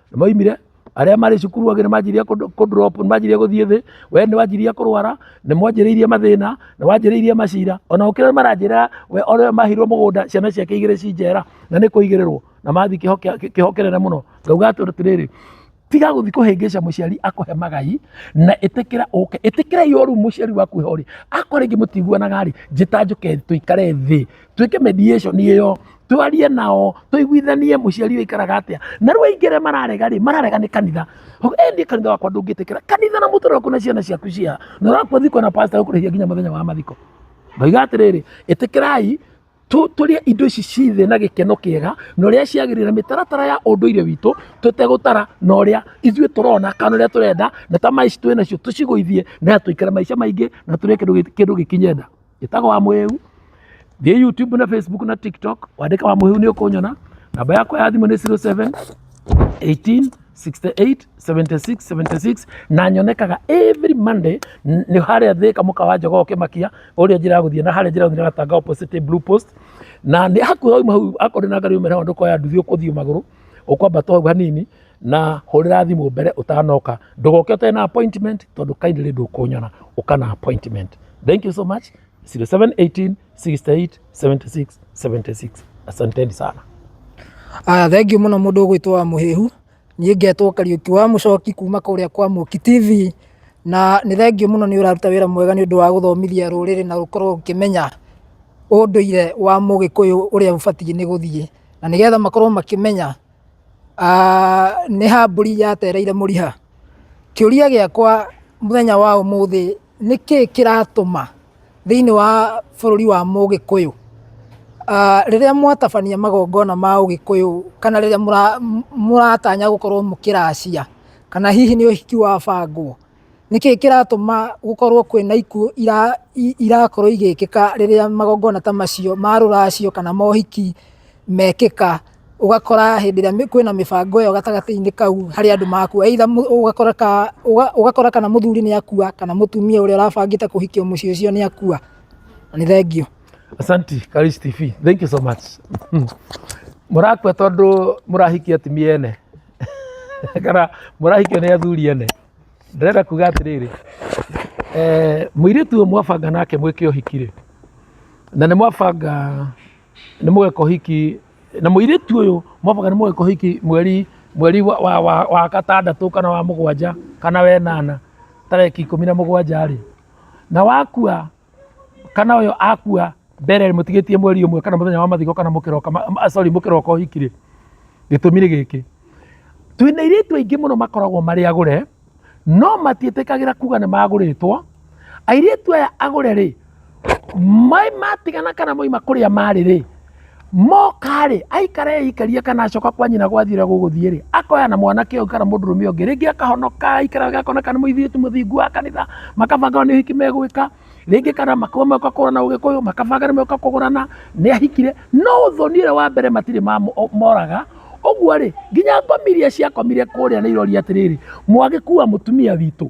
maimire arĩa marĩ cukuru angĩ nĩmanjirie kũdrop nĩmanjirie gũthiĩ thĩ we nĩwanjirie kũrwara nĩmwanjĩrĩirie mathĩna nĩwanjĩrĩirie macira ona ũkĩrĩa maranjĩra we ore mahirwo mũgũnda ciana ciake igĩrĩ ci njera na nĩ kũigĩrĩrwo na mathi kĩho kĩnene mũno ngauga atĩrĩrĩ tiga gũthiĩ kũhĩngĩca mũciari akũhe magai na ĩtĩkĩra ũke ĩtĩkĩra yoru mũciari waku he ũrĩ akwa rĩngĩ mũtiguanaga rĩ njĩta njũke tũikare thĩ twĩke mediation ĩyo twarie nao tũiguithanie mũciari ũyũ aikaraga atĩa na rĩu aingĩ arĩa mararega rĩ mararega nĩ kanitha Ho- eh niĩ kanitha wakwa ndũngĩtĩkĩra kanitha na mũtũrĩre waku na ciana ciaku cia na ũrakua thiko na pastor ũkũrĩhia nginya mũthenya wa mathiko ngoiga atĩrĩrĩ ĩtĩkĩrai tũ- tũrĩe indo ici ciothe na gĩkeno kĩega na ũrĩa ciagĩrĩire mĩtaratara ya ũndũire witũ tũtegũtara na ũrĩa ithuĩ tũrona kana ũrĩa tũrenda na ta maici twĩ nacio tũcigũithie na tũikare maica maingĩ na tũrĩe kĩndũ gĩ- kĩndũ gĩkinye nda Njĩtagwo wa mũhĩu. Thiĩ YouTube na Facebook na TikTok wandĩke wa mũhĩu nĩ ũkũnyona. Namba yakwa ya thimũ nĩ 07 18 68 76 76 na nyonekaga every Monday n- nĩ harĩa thĩka mũka wa njogoo kĩmakia ũrĩa njĩra ya gũthiĩ na harĩa njĩra ya gũthiĩ na gatanga opposite blue post na nĩ hakuhĩ wauma hau akorwo ndĩ na ngari umĩra hau ndũkoya nduthi ũkũthiĩ magũrũ Ũkwamba to hau hanini na hũrĩra thimũ mbere ũtanoka. Ndũgoke ũtarĩ na appointment tondũ kindly ndũkũnyona ũka na appointment. Thank you so much. 0718 68 76 76. Asanteni sana. Aya, thengiũ mũno mũndũ ũgwĩtwo wa mũhĩhu niĩ ngetwo kariũki wa mũcoki kuma kũrĩa kwa mũki tv na nĩ thengiũ mũno nĩ ũraruta wĩra mwega nĩ ũndũ wa gũthomithia rũrĩrĩ na gũkorwo ũkĩmenya ũndũire wa mũgĩkũyũ ũrĩa ũbatiĩ nĩ gũthiĩ na nĩgetha makorwo makĩmenya ah, nĩ ha mbũri yatereire mũriha kĩũria gĩakwa mũthenya wa ũmũthĩ nĩ kĩĩ kĩratũma thĩinĩ wa bũrũri wa mũgĩkũyũ Ah, rĩrĩa mwatabania magongona ma ũgĩkũyũ kana rĩrĩa mũra- m- mũratanya gũkorwo mũkĩracia kana hihi nĩ ũhiki wa bangwo Nĩkĩ kĩratũma gũkorwo kwĩna ikuũ irakorwo igĩkĩka rĩrĩa magongona ta macio ma rũracio kana mohiki mekĩka? Ũgakora hĩndĩ ĩrĩa kwĩna mĩbango ĩyo gatagatĩ-inĩ kau harĩ andũ makua, either ũgakora kana mũthuri nĩ akua kana mũtumia ũrĩa ũrabangĩte kũhikio mũciĩ ũcio nĩ akua. Na nĩ thengiũ. Asanti Karis TV. Thank you so much. Mũrakua tondũ mũrahikia atumia ene? kana mũrahikio nĩ athuri ene ndĩrenda kuga atĩrĩrĩ eh, mũirĩtu ũyũ mwabanga nake mwĩke ũhiki rĩ na nĩ mwabanga nĩ mũgeka ũhiki na mũirĩtu ũyũ mwabanga nĩ mũgeka ũhiki mweri mweri wa, wa, wa, wa gatandatũ kana wa mũgwanja kana wenana tarĩki ikũmi na mũgwanja rĩ na wakua kana ũyũ akua mbere mũtigĩtie mweri ũmwe kana mũthenya wa mathiko kana mũkĩroka ah, sorry mũkĩroka ũhiki rĩ gĩtũmi nĩ gĩkĩ twĩna airĩtu aingĩ mũno makoragwo marĩ agũre no matiĩtĩkagĩra kuga nĩ magũrĩtwo airĩtu aya agũre rĩ matigana kana moima kũrĩa marĩ rĩ mokarĩ aikara eikarie kana acoka kwa nyina gwathire gũgũthiĩ rĩ akoya na mwanake ũyũ kana mũndũrũme ũngĩ rĩngĩ akahonoka aikara gakona kana mũithĩtu mũthingu wa kanitha makabanga nĩ ũhiki megwĩka rĩngĩ kana makaba moka kũgũrana ũgĩkũyũ makabanga nĩ moka kũgũrana nĩ ahikire no ũthoni ũrĩa wa mbere matirĩ moraga ũguo rĩ nginya ngomi iria ciakomire kũrĩa nĩ iroria atĩrĩrĩ mwagĩkua mũtumia witũ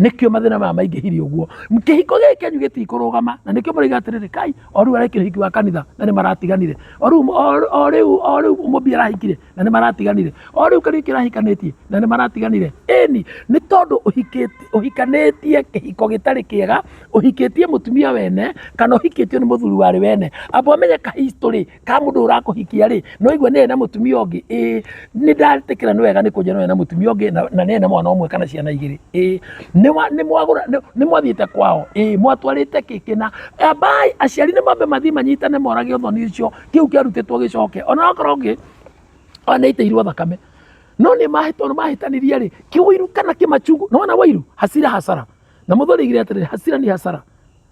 nĩkĩo mathĩna maya maingĩhire ũguo kĩhiko gĩkĩ kĩanyu gĩtikũrũgama na nĩkĩo mũraiga atĩrĩrĩ kai o rĩu arekire ũhiki wa kanitha na nĩ maratiganire o rĩu o rĩu o rĩu mũmbi arahikire na nĩ maratiganire o rĩu kariũki arahikanĩtie na nĩ maratiganire ĩni nĩ tondũ ũhikanĩtie kĩhiko gĩtarĩ kĩega ũhikĩtie mũtumia wene kana ũhikĩtio nĩ mũthuri warĩ wene amba ũmenye ka history ka mundu urakuhikia ri no igwe ne na mutumia ungi ii ni ndatikira ni wega ni kunja no na mutumia ungi na ne na mwana umwe kana ciana igiri ii ni wa ni mwagura ni mwathiite kwao ii mwatwarite kiki na abai aciari ni mambe mathi manyitane morage uthoni ucio kiu kiarutitwo gicoke ona okorwo ngi ona iteirwo thakame no nä mahätwo nä mahätanirie rä kä wairu kana kä macungu nä wona wairu hasira hasara na må thå rä gire atä rä hasira ni hasara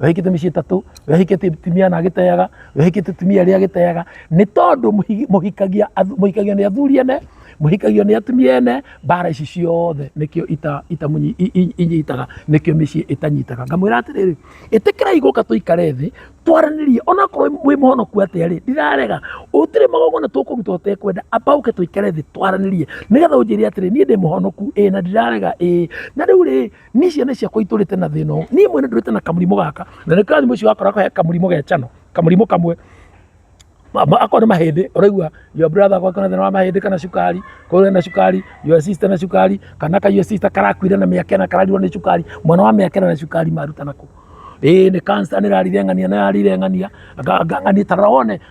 wehikite mĩciĩ tatũ wehikĩte tumia na agĩteaga wehikĩte tumia rĩa agĩteaga nĩ tondũ mũhikagia mũhikagio nĩ athuri ene mũhikagio nĩ atumia ene mbara ici ciothe nĩkĩo ita ita inyitaga nĩkĩo mĩciĩ ĩtanyitaga ngamwĩra atĩrĩrĩ ĩtĩkĩrai gũka tũikare thĩ twaranĩrie ona korwo wĩ mũhonoku atĩa rĩ ndirarega ũtirĩ magongona tũkũruta ũtekwenda amba ũke tũikare thĩ twaranĩrie nĩgetha ũnjĩre atĩrĩ niĩ ndĩ mũhonoku ĩ na ndirarega ĩ na rĩu rĩ ni ciana ciakwa itũrĩte na thĩna ũũ niĩ mwene ndũrĩte na kamũrimũ gaka na nĩ karathimo ũcio wakoragwo he kamũrimũ ge cano kamũrimũ kamwe Ma- ma- akorwo nĩ mahĩndĩ ũraigua your brother gwake na thĩna wa mahĩndĩ kana cukari kũrĩa na cukari your sister na cukari kana ka your sister karakuire na mĩaka ĩna kararirwo nĩ cukari mwana wa mĩaka ĩna na cukari maruta nakũ ĩĩ nĩ cancer nĩ rarire ng'ania nĩ rarire ng'ania Nga- nga- ng'ania tarora wone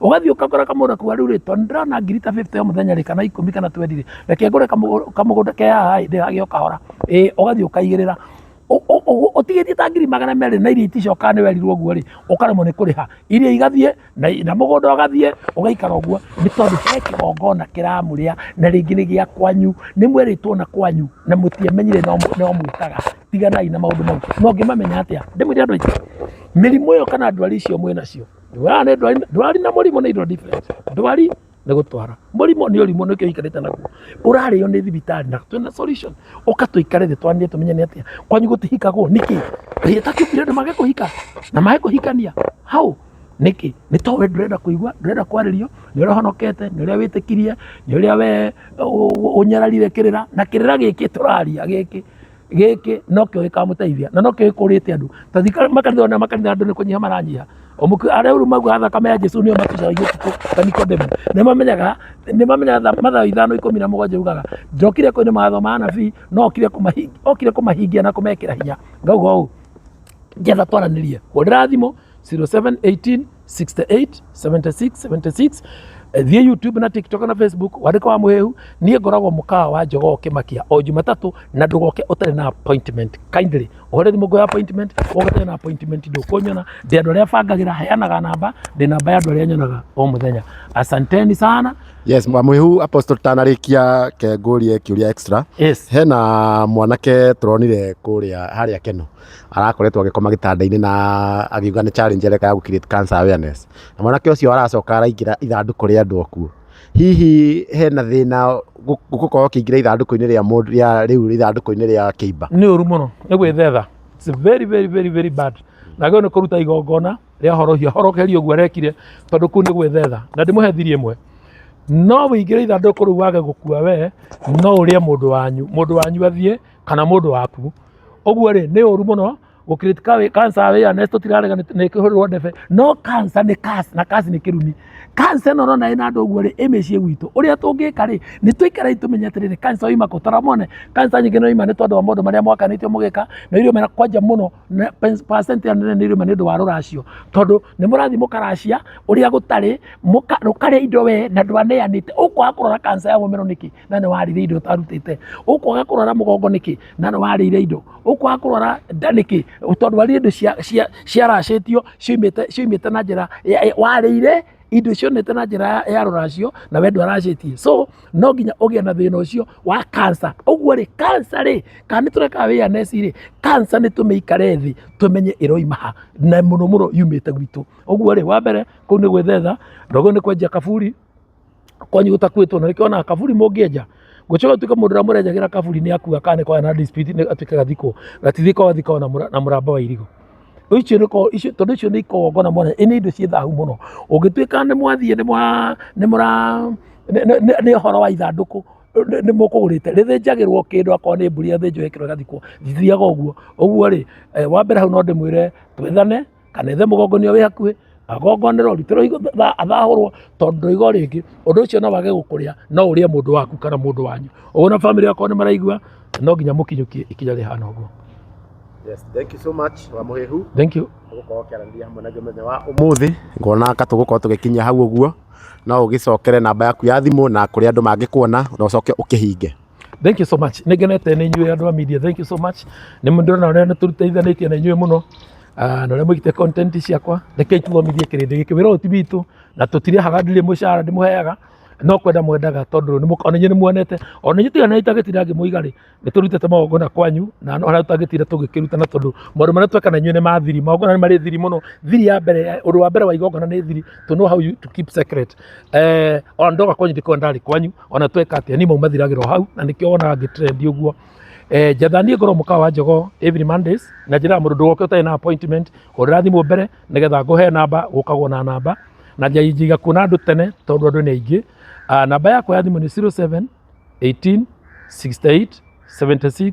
ũgathiĩ ũkagũra kamũgũnda kau rĩu rĩ tondũ ndĩrona ngiri ta 50 o mũthenya rĩ kana ikũmi kana twendi rĩ reke ngũre kamũgũ- kamũgũnda ke haha ĩ ndĩgagĩe o kahora ĩ ũgathiĩ ũkaigĩrĩra Ũ- ũ- ũ- ũtigĩtie ta ngiri magana merĩ na iria iticokaga nĩ werirwo ũguo rĩ ũkaremwo nĩ kũrĩha iria igathiĩ na i- na mũgũnda ũgathiĩ ũgaikara ũguo nĩ tondũ he kĩgongona kĩramũrĩa na rĩngĩ nĩ gĩa kwanyu nĩ mwerĩtwo na kwanyu na mũtiamenyire no mũ- no mwĩkaga tiganai na maũndũ mau no ngĩmamenya atĩa ndĩmwĩre andũ aitũ mĩrimũ ĩyo kana ndwari icio mwĩ nacio Ndwara nĩ ndwari, ndwari na mũrimũ nĩ indo different. Ndwari nĩ gũtwara. Mũrimũ nĩ ũrimũ nĩkĩo ũikarĩte naguo. Ũrarĩo nĩ thibitarĩ na twĩna solution. Ũka tũikare thĩ twaranĩrie tũmenye nĩ atĩa. Kwanyu gũtihikagwo nĩkĩ? Kaĩ ĩtakĩũkire andũ mage kũhika na mage kũhikania? How? Nĩkĩ? Nĩ to we ndũrenda kũigua, ndũrenda kwarĩrio, nĩ ũrĩa ũhonokete, nĩ ũrĩa wĩtĩkirie, nĩ ũrĩa we ũ- ũ- ũnyararire kĩrĩra, na kĩrĩra gĩkĩ tũraria gĩkĩ gĩkĩ no kĩo gĩkamũteithia na no kĩo gĩkũrĩte andũ ta thika makanitha ona makanitha andũ nĩ kũnyiha maranyiha omuku arĩa uru maguha thakame ya Jesu nĩo matucaragia ũtukũ ta Nikodemu nĩ mamenyaga nĩ mamenyaga mathaa ithano ikũmi na mũgwanja ugaga njokire kũinĩ mawatho ma anabii no okire kũmahingia okire kũmahingia na kũmekĩra hinya ngauga ũũ njetha twaranĩrie hũrĩra thimũ 0718 68 76 76 Eh, thiĩ youtube na tiktok na facebook wandĩka wa mũhĩhu niĩ ngoragwo mũkawa wa njogoo kĩmakia o jumatatũ na ndũgoke ũtarĩ na appointment kindly ũhũre thimũ ngoya appointment woke ũtarĩ na appointment ndũkũnyona ndĩ andũ arĩa bangagĩra heanaga namba ndĩ namba ya andũ arĩa nyonaga o mũthenya asanteni sana yes mwamwihu apostle tanarĩkia kengũrie kĩũria extra yes hena mwanake tũronire kũrĩa harĩa keno arakoretwo agĩkoma gĩtanda-inĩ na akiuga nĩ challenge areka ya gũ create cancer awareness. Na mwanake ũcio aracoka araingĩra ithandũkũ rĩa andũ akuũ. Hihi hena thĩna gũkorwo ũkĩingĩra ithandũkũ-inĩ rĩa mũndũ rĩa rĩu ithandũkũ-inĩ rĩa kĩimba? Nĩ ũru mũno, nĩ gwĩthetha. It's very very very very bad. Na agĩrĩirwo nĩ kũruta igongona rĩa horohio, ahoroherio ũguo arekire tondũ kũu nĩ gwĩthetha. Na ndĩmũhe thiri ĩmwe. No ũingĩre ithandũkũ rĩu wage gũkua wee, no ũrĩe mũndũ wanyu. Mũndũ wanyu athiĩ. kana mũndũ waku ũguo rĩ nĩ ũru mũno gũkirĩti kawe kansa awareness tũtirarega nĩ nĩ kĩhũrĩrwo ndebe no kansa nĩ kasi na kasi nĩ kĩrumi kansa ĩno ũrona ĩna andũ ũguo rĩ ĩ mĩciĩ gwitũ ũrĩa tũngĩka rĩ nĩ tũikare tũmenye atĩrĩrĩ kansa oima kũ tara mone kansa nyingĩ no ima nĩ tondũ wa maũndũ marĩa mwakanĩtio mũgĩka na irio mena kwanja mũno na pens- percent ya nene nĩ irio nĩ ũndũ wa rũracio tondũ nĩ mũrathiĩ mũkaracia ũrĩa gũtarĩ mũka- rũkarĩa indo wee na ndwaneanĩte ũkwaga kũrora kansa ya mũmero nĩkĩ na nĩ warĩire indo ũtarutĩte ũkwaga kũrwara mũgongo nĩkĩ na nĩ warĩire indo ũkwaga kũrwara nda nĩkĩ tondũ warĩire indo cia- cia- ciaracĩtio ciumĩte ciumĩte na njĩra ya- ya- warĩire indo cionete na njĩra ya- ya rũracio na we ndwaracĩtie so no nginya ũgĩe na thĩna ũcio wa kansa ũguo rĩ kansa rĩ kana nĩ tũreka wĩya neci rĩ kansa nĩ tũmĩikare thĩ tũmenye ĩroima ha na mũno mũno yumĩte gwitũ ũguo rĩ wa mbere kũu nĩ gwĩthetha ndogo nĩ kwenja kaburi kwanyu gũtakuĩtwo na nĩkĩo onaga kaburi mũngĩenja gũcoka tuĩka mũndũ ũrĩa mũrenjagĩra kaburi nĩ akua kana nĩkona na dispute nĩ atuĩke gathikwo gatithikwo gathikwo na mũra- na mũramba wa irigũ icio nĩko icio tondũ icio nĩ ikongona mwana ĩ nĩ indo ciĩ thahu mũno ũngĩtuĩka nĩ mwathiĩ nĩ mwa nĩ mũra nĩ- nĩ- nĩ- nĩ ũhoro wa ithandũkũ nĩ- nĩ mũkũgũrĩte rĩthĩnjagĩrwo kĩndũ akorwo nĩ mbũri ĩthĩnjwo ĩkĩrwo ĩgathikwo ndithiaga ũguo ũguo rĩ eh, wa mbere hau no ndĩmwĩre twĩthane kana ethe mũgongonia wĩ hakuhĩ agongonerwo rutĩrwo higo tha- athahũrwo tondũ ndũigo rĩngĩ ũndũ ũcio no wage gũkũrĩa no ũrĩe mũndũ waku kana mũndũ wanyu ũguo na bamĩrĩ yakwa nĩ maraigua no nginya mũkinyũkie ikinya rĩhana ũguo Yes, thank you so much wa Mũhĩhu. thank you tũgũkorwo kĩaranĩria hamwe na ithuĩ mũthenya wa ũmũthĩ ngona ka tũgũkorwo tũgĩkinyia hau ũguo no ũgĩcokere namba yaku ya thimũ na kũrĩa andũ mangĩkuona na ũcoke ũkĩhinge Thank you so much. Nĩ ngenete nĩ inyuĩ andũ a media. Thank you so much. Nĩ mũndĩrona ũrĩa nĩ tũteithanĩtie na inyuĩ mũno. Ah, na ũrĩa mwĩkĩte content ciakwa. Rekei tũthomithie kĩrĩndĩ gĩkĩ. Wĩra ũyũ ti witũ na tũtirĩhaga ndirĩ mũcara ndĩmũheaga no kwenda mwendaga tondũ nĩ mũka- ona inyuĩ nĩ muonete ona inyuĩ tiga nĩ itagĩtira ngĩmũiga rĩ nĩ tũrutĩte magongona kwanyu na no harĩa tũtangĩtira tũgĩkĩrutana tondũ maũndũ marĩa tweka na inyuĩ nĩ ma thiri magongona nĩ marĩ thiri mũno thiri ya mbere ya- ũndũ wa mbere wa igongona nĩ thiri to know how you to keep secret eh, ona ndoka kwanyu ndĩkorwo ndarĩ kwanyu ona tweka atia ni maumathiragirwo hau na nikio wona ngi trend uguo eh jatha ni ngoro muka wa njogo every mondays na njira mundu ndugoke utai na appointment hurira thimu mbere nigetha nguhe namba gukagwo na namba na njiga kuona andu tene tondu andu ni aingi namba yakwa ya thimu ni 07 18 68 76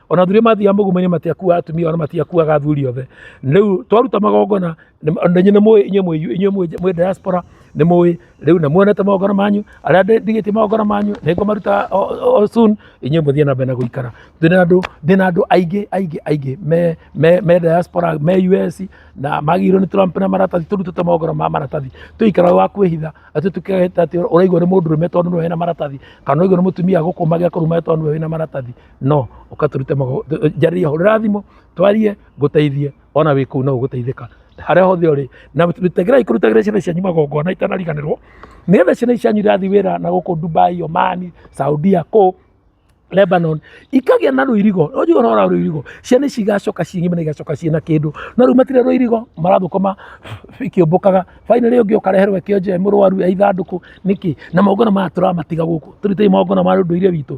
ona athuri mathiaga mũgumo-inĩ matiakuaga atumia ona matiakuaga athuri othe rĩu twaruta magongona nĩ- na inyuĩ nĩ mũĩ inyuĩ mũĩ inyuĩ mũĩ mũĩ diaspora nĩ mũĩ rĩu na muonete magongona manyu arĩa ndĩ- ndigĩtie magongona manyu nĩ ngũmaruta o- o- o soon inyuĩ mũthiĩ na mbere na gũikara ndĩ na andũ ndĩ na andũ aingĩ aingĩ aingĩ me me me diaspora me US na magirwo nĩ Trump na maratathi tũrutĩte magongona ma maratathi tũikara wa kwĩhitha atĩ tũkĩhĩta atĩ ũraigua nĩ mũndũ rũme tondũ nĩwe wĩna maratathi kana ũraigua nĩ mũtumia gũkũ magĩa kũruma tondũ nĩwe wĩna maratathi no ũka tũrute mago- tũ- njarĩria hũrĩra thimũ twarie ngũteithie ona wĩ kũu no ũgũteithĩka harĩa hothe ũrĩ na tegerai kũrutagĩra ciana cianyu magongona itanariganĩrwo nĩgetha ciana ici cianyu irathiĩ wĩra na gũkũ dubai omani saudia kũu Lebanon ikagĩa na rũirigo ũnjigũ ũhoro wa rũirigo ciana ici igacoka cing'ime na igacoka ciĩ na kĩndũ no rĩu matirĩ rũirigo marathũkũma ikĩũmbũkaga finally ũngĩ ũkareherwo kĩonje mũrwaru ya ithandũkũ nĩkĩ na maũngana maya tũramatiga gũkũ tũrutei maũngana ma ũndũire witũ